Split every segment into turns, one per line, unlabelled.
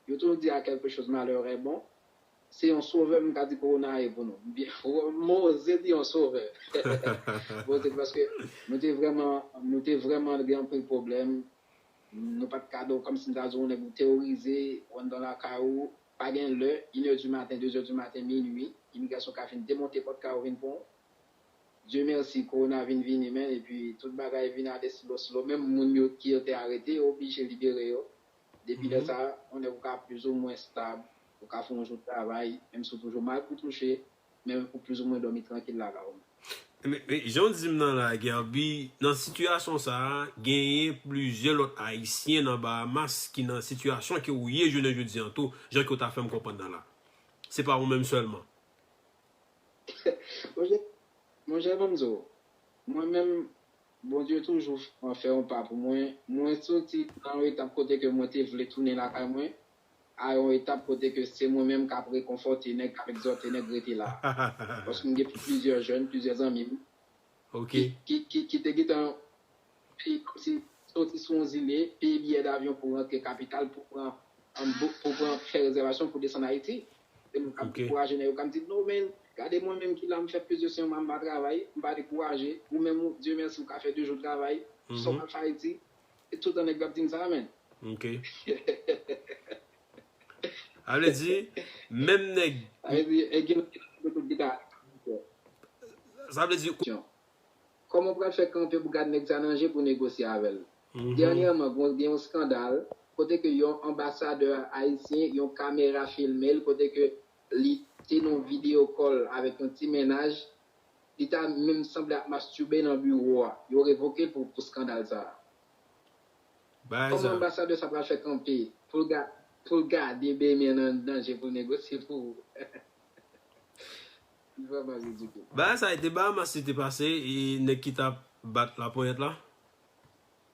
Yo toujou di a quelque chose malheur est bon se yon sovè m ka di kowona a ye pou nou m byen m oze di yon sovè m oze di paske nou te vrèman nou te vrèman gen anpil pwoblèm nou pat ka dò kòmsi m ta di w yon nèg ou teworize ou anndan lakay ou pa gen lè inè di maten dezè di maten minui imigrasyon ka vin demonte pòt kay ou vin pran w Dye mèsi kowona vin vini men epi tout bagay vin ale slo slo menm moun yo ki yo te arete yo oblije libere yo. Depi lè sa, yon nèg ou ka plizoumwen stab, ou ka fè yon jou travay, menm si ou toujou mal pou touche, men ou plizoumwen dòmi trankil lala ou. Men,
jan w di m nan la a, Guerby, nan sitiyasyon sa a, genyen plizyè lòt Ayisyen nan Bahamas ki nan sitiyasyon ke ou ye jounen jodi an tou, jan ke w ta fè m konprann nan la a. Se pa ou menm sèlman. Monchè, monchè,
ban m di w, mwen menm, Bondye toujou fè yon pa pou mwen. Mwen soti nan yon etap kote ke mwen te vle tounen lakay mwen a yon etap kote ke se mwen menm kap rekonfòte nèg, kap egzòte nèg rete la. Paske m gen plizyè jèn, plizyè zanmi m
ki
te gentan peye kòmsi soti sou yon zile, peye biyè davyon pou rantre kapital pou pran pou pran fè rezèvasyon pou desann Ayiti. Se moun kap dekouraje nèg yo kap di no men gade mwen menm ki la m fè plis de 100 mwa m pa travay m pa dekouraje ou menm ou Dieu merci ou ka fè 2 jou travay sa w pral fè Ayiti se tout tan nèg yo ap dim sa man. Ok.
Sa vle di menm nèg. Sa vle di e gen nèg ki nan tout gita. Sa vle di. Kòman
w pral fè kanpe pou gad nèg sa nan je pou negosye avè l? Dènyèman gen yon skandal kote ke yon anbasadè ayisyen yon kamera filme l kote ke li te nan yon video call avèk yon ti mennaj, li ta menm sanble ap masturbe nan biwo a. Yo revoke l pou skandal sa a. Kòman anbasadè sa pral fè kanpe pou l gade Bemè nan je pou l negosye pou.
Li vreman ridikil. Bagay sa e te Bahamas li te pase e nèg ki tap bat laponyèt la?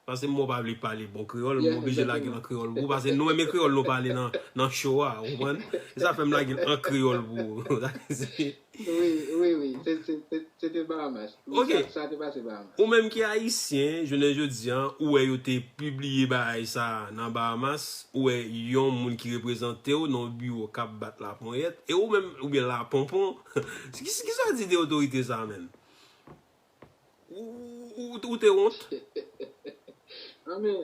Pase mwen pa vle pale bon kreyòl mwen oblije lage l an kreyòl pou ou pase nou renmen kreyòl nou pale nan show a ou konprann? Se sa fè m lage l an kreyòl pou ou. Wi wi se
te Bahamas. Ok.
Ou
menm ki ayisyen,
jounen jodi an, ou wè yo te pibliye bagay sa a nan Bahamas, ou wè yon moun ki reprezante w nan yon biwo k ap bat laponyèt, e ou menm, oubyen laponpon, ki sa w di de otorite sa a menm? Ou te wont?
Anben,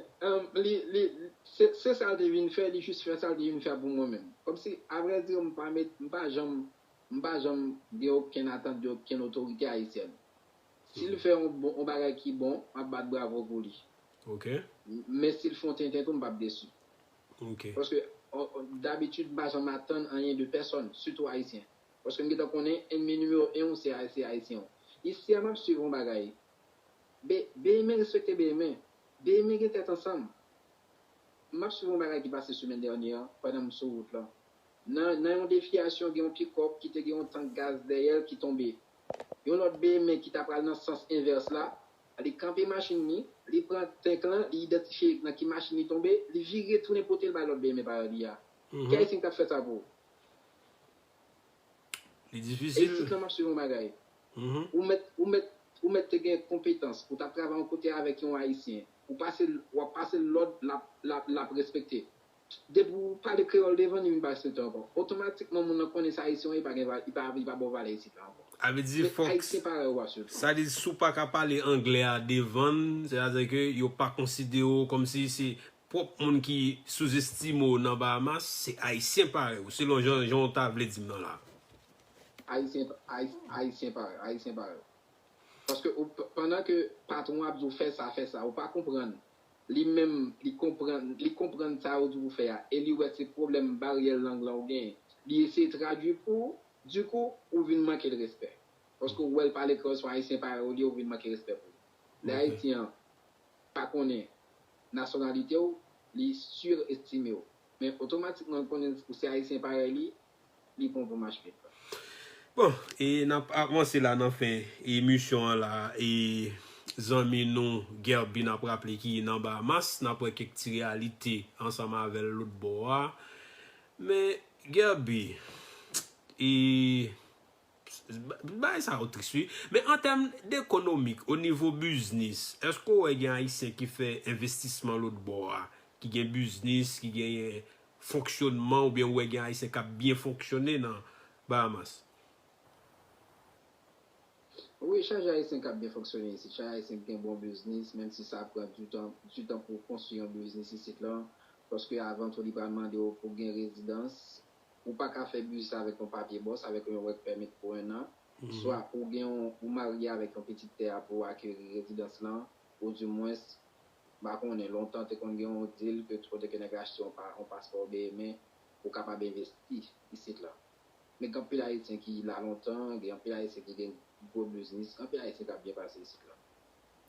se sa l te vin fè, li jis fè sa l te vin fè pou mwen menm. Kòmsi, avre dire, m pa janm M pa janm gen okenn atant de okenn otorite ayisyèn. Si l fè yon bon yon bagay ki bon, m ap bat bravo pou li. Ok.
Men si l
fè yon tenten tou m p ap desi. Ok. Paske dabitid m pa janm atann anyen de pèsòn, sitou ayisyen. Paske m gentan konnen enmi nimewo 1 w se ayisyen w. Isi a m ap swiv yon bagay. Be, Beymen respekte Beymen. Beymen gen tèt ansanm. M ap swiv yon bagay ki pase semèn dènye an pandan m sou wout lan. Nan nan yon defiyasyon gen yon pikòp ki te gen yon tank gaz dèyè l ki tonbe. Yon lòt BME ki ta pral nan sans envès la, li kanpe machin li, li pran tank lan, li idantifye nan ki machin li tonbe, li vire tounen pote l bay lòt BME parèy li a. Ki Ayisyen ki t ap fè sa pou ou?
Li difisil. E isit lan m ap suiv yon bagay.
Ou mèt ou mèt ou mèt te gen konpetans, ou t ap travay yon kote avèk yon Ayisyen, ou pase l w ap pase l lòd l ap l ap l ap respekte. Depi ou pale kreyòl devan li, li pa respekte w ankò. Otomatikman moun nan konnen se Ayisyen w ye, li pa gen, li pa ba w valè isit la ankò. Sa vle di fòk,
sa vle di si w pa ka pale anglè a devan l, sètadi ke yo pa konsidere w kòm si se pwòp moun ki souzestime w nan Bahamas, se Ayisyen parèy ou, selon jan, jan w ta vle di m nan la. Ayisyen,
Ayisyen parèy ou, Ayisyen parèy ou. Paske ou, pandan ke patwon an ap di w fè sa, fè sa, ou pa konprann. Li menm li konprann, li konprann sa yo di pou fè a e li wè se pwoblèm baryè lang lan ou genyen. Li eseye tradui pou ou, di kou, ou vin manke l respè. Paske ou wè l pale kreyòl sou Ayisyen parèy ou li, ou vin manke respè pou li. Lè Ayisyen an pa konnen nasyonalite ou, li surestime ou. Men otomatikman l konnen ou se Ayisyen parèy li, li bon pou
mach pit la. Bon e nap avanse la nan fen emisyon an la e zanmi nou Guerby nap raple ki nan Bahamas nap wè kèk ti reyalite ansanm avèl lòt bò a men Guerby e Bagay sa yo tris wi. Men an tèm dekonomik, o nivo biznis, èske ou wè gen Ayisyen ki fè envestisman lotbò a, ki gen biznis, ki gen fonksyonman oubyen ou wè gen Ayisyen k ap byen fonksyone nan Bahamas?
Wi, chaje Ayisyen k ap byen fonksyone isit. Chaje Ayisyen ki gen bon biznis, menm si sa pran ditan ditan pou w konstwi yon biznis isit lan. Paske avan tou li pral mande w pou w gen rezidans Ou pa ka fè biznis avèk yon papye bòs, avèk yon work permit pou 1 an, swa ou gen yon, ou marye avèk yon pitit tè a pou ou akeri rezidans lan, ou di mwens, m pa konnen, lontan te konn gen yon deal ke kote ke nèg achte yon pa, yon paspò oubeye men ou kapab envesti isit lan. Men gen anpil Ayisyen ki la lontan, gen anpil Ayisyen ki gen gwo biznis, gen anpil Ayisyen k ap byen pase isit lan.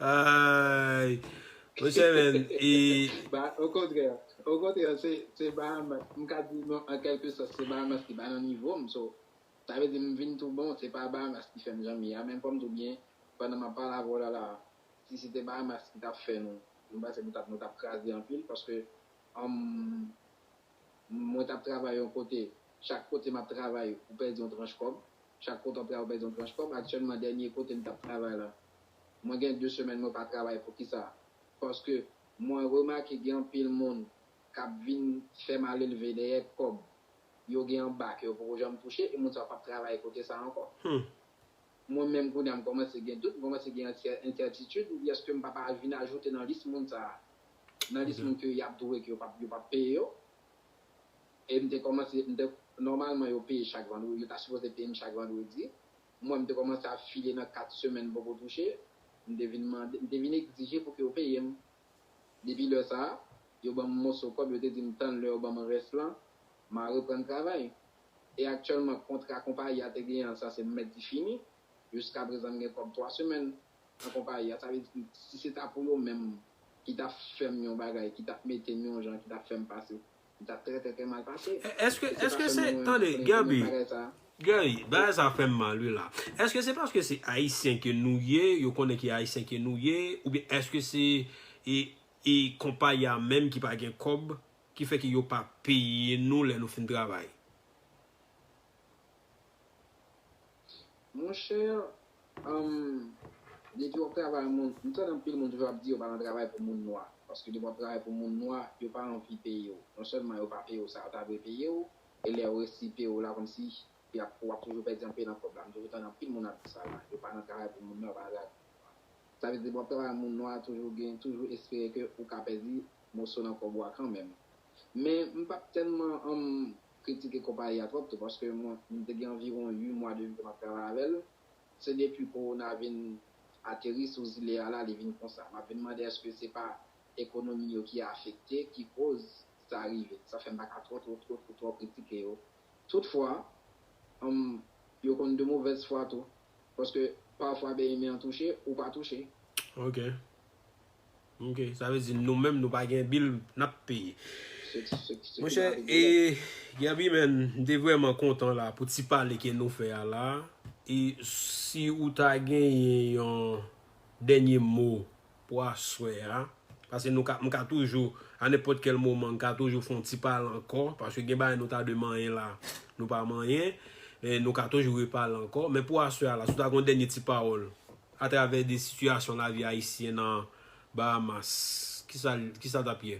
Ayy Monchè men e Ba o
kontrè O kontrè se se Bahamas m ka di non an kèlke sòs se Bahamas ki pa nan nivo m so sa vle di m vin tou bon se pa Bahamas ki fè m jan m ye a men fò m tou byen pandan m ap pale avè w la la a si se te Bahamas ki t ap fè nou m panse nou t ap nou t ap kraze anpil paske humm mwen t ap travay yon kote chak kote m ap travay ou pèdi yon tranch kòb Chak kote w pral w pèdi yon tranch kòb, aktyèlman dènye kote m t ap travay la mwen gen 2 semèn mwen pa travay poukisa paske mwen remake gen anpil moun k ap vin fè malelve dèyè kòb yo gen anba ke yo poko janm touche e moun sa yo p ap travay kote sa ankò mwen menm kounye a m kòmanse gen dout m kòmanse gen ensètitid m di èske m pa pa vin ajoute nan lis moun sa nan lis moun ke y ap dwe ke yo p ap peye yo. E m te kòmanse, m te, nòmalman yo peye chak vandredi, yo ta sipoze peye m chak vandredi. Mwen m te kòmanse ap file nan 4 semèn m poko touche. M te vin mande, m te vin egzije pou ke yo peye m. Depi lè sa a, yo ban m moso kòb, yo te di m tann lè yo ban m rès lan, ma reprann travay. E aktyèlman kontra konpayi a te genyen an sa se m mèt di fini. Jiskaprezan m gen kòb 3 semèn nan konpayi a. Sa vle di, si se ta pou yo menm ki ta fè m yon bagay, ki ta mete m yon jan, ki ta fè m pase M tap trè trè trè mal pase. Eske se pa
selman mwen ki konnen gen menm bagay sa. Guy, bagay sa fèm mal wi la. Eske se paske se ayisyen ke nou ye, yo konnen ki ayisyen ke nou ye, oubyen eske se e konpayi a menm ki pa gen kòb ki fè ke yo pa peye nou lè nou fin travay?
Mon cher humm depi wap travay moun m tande anpil moun toujou ap di yo pa nan travay pou moun nwa paske depi wap travay pou moun nwa yo pa anvi peyew non sèlman yo pa peyew sa yo ta dwe peyew e lè yo resi peyew la kòmsi yap wap toujou pèdi anpe nan kòb la m toujou tande anpil moun ap di sa la yo pa nan travay pou moun nwa yo pa nan travay pou moun nwa sa vle di depi wap travay moun nwa toujou gen toujou espere ke ou ka pèdi moso nan kòb ou a kanmenm Men m pa t tèlman anm kritike konpayi a twòp tou paske m te gen anviwon 8 mwa depi ke m ap travay avè l. Se depi kowona vin ateri sou zile a la li vin konsa. M ap vin mande èske se pa ekonomi yo ki afekte ki koz sa rive. Sa fè m pa ka twò twò twò twò twò kritike yo. Toutfwa, anm yo konn de movèz fwa tou paske pafwa BMI an touche ou pa touche. Ok.
Ok sa vle di nou menm nou pa gen bil nap peye. Monchè e Gaby men m te vreman kontan la pou ti pale ke nou fè a la e si ou ta genyen yon dènye mo pou aswè a pase nou ka m ka toujou a nenpòt kèl moman m ka toujou fon ti pale ankò paske gen bagay nou ta dwe manyen la nou pa manyen nou ka toujou repale ankò men pou aswè a la si w ta gon dènye ti pawòl Atravè de sitiyasyon lavi ayisyen nan Bahamas, kisa l t ap ye?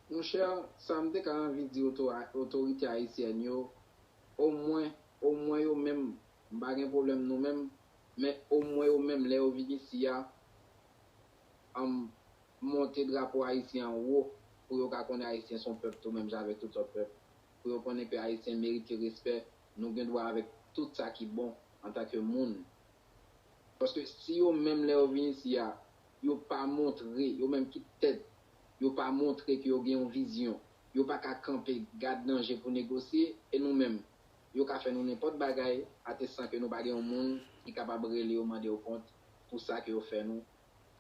Monchè, sa m te ka anvi di otorite ayisyèn yo, omwen, omwen yo menm, m pa gen pwoblèm nou menm, men omwen yo menm lè yo vin isi a, anm, monte drapo ayisyen an wo pou yo ka konnen ayisyen s on pèp tou menm jan avèk tout lòt pèp. pou yo konnen ke Ayisyen merite respè, nou gen dwa avèk tout sa ki bon antanke moun. Paske si yo menm lè yo vin isi a, yo pa montre, yo menm ki tèt yo pa montre ke yo gen yon vizyon, yo pa ka kanpe gad nan je pou negosye, e nou menm, yo ka fè nou nenpòt bagay ate san ke nou pa gen yon moun ki kapab rele yo mande yo kont pou sa ke yo fè nou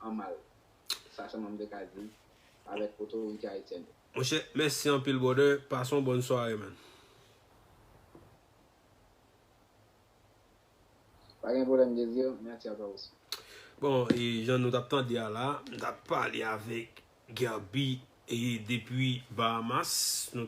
an mal. Sa sèlman m te ka di avèk otorite Ayisyèn yo. Monchè
mèsi anpil brother pase yon bòn sware man.
Pa gen pwoblèm Désir, mèsi a twa osi. Bon e
jan nou tap tande a la, m tap pale avèk Guerby e depi Bahamas nou tap.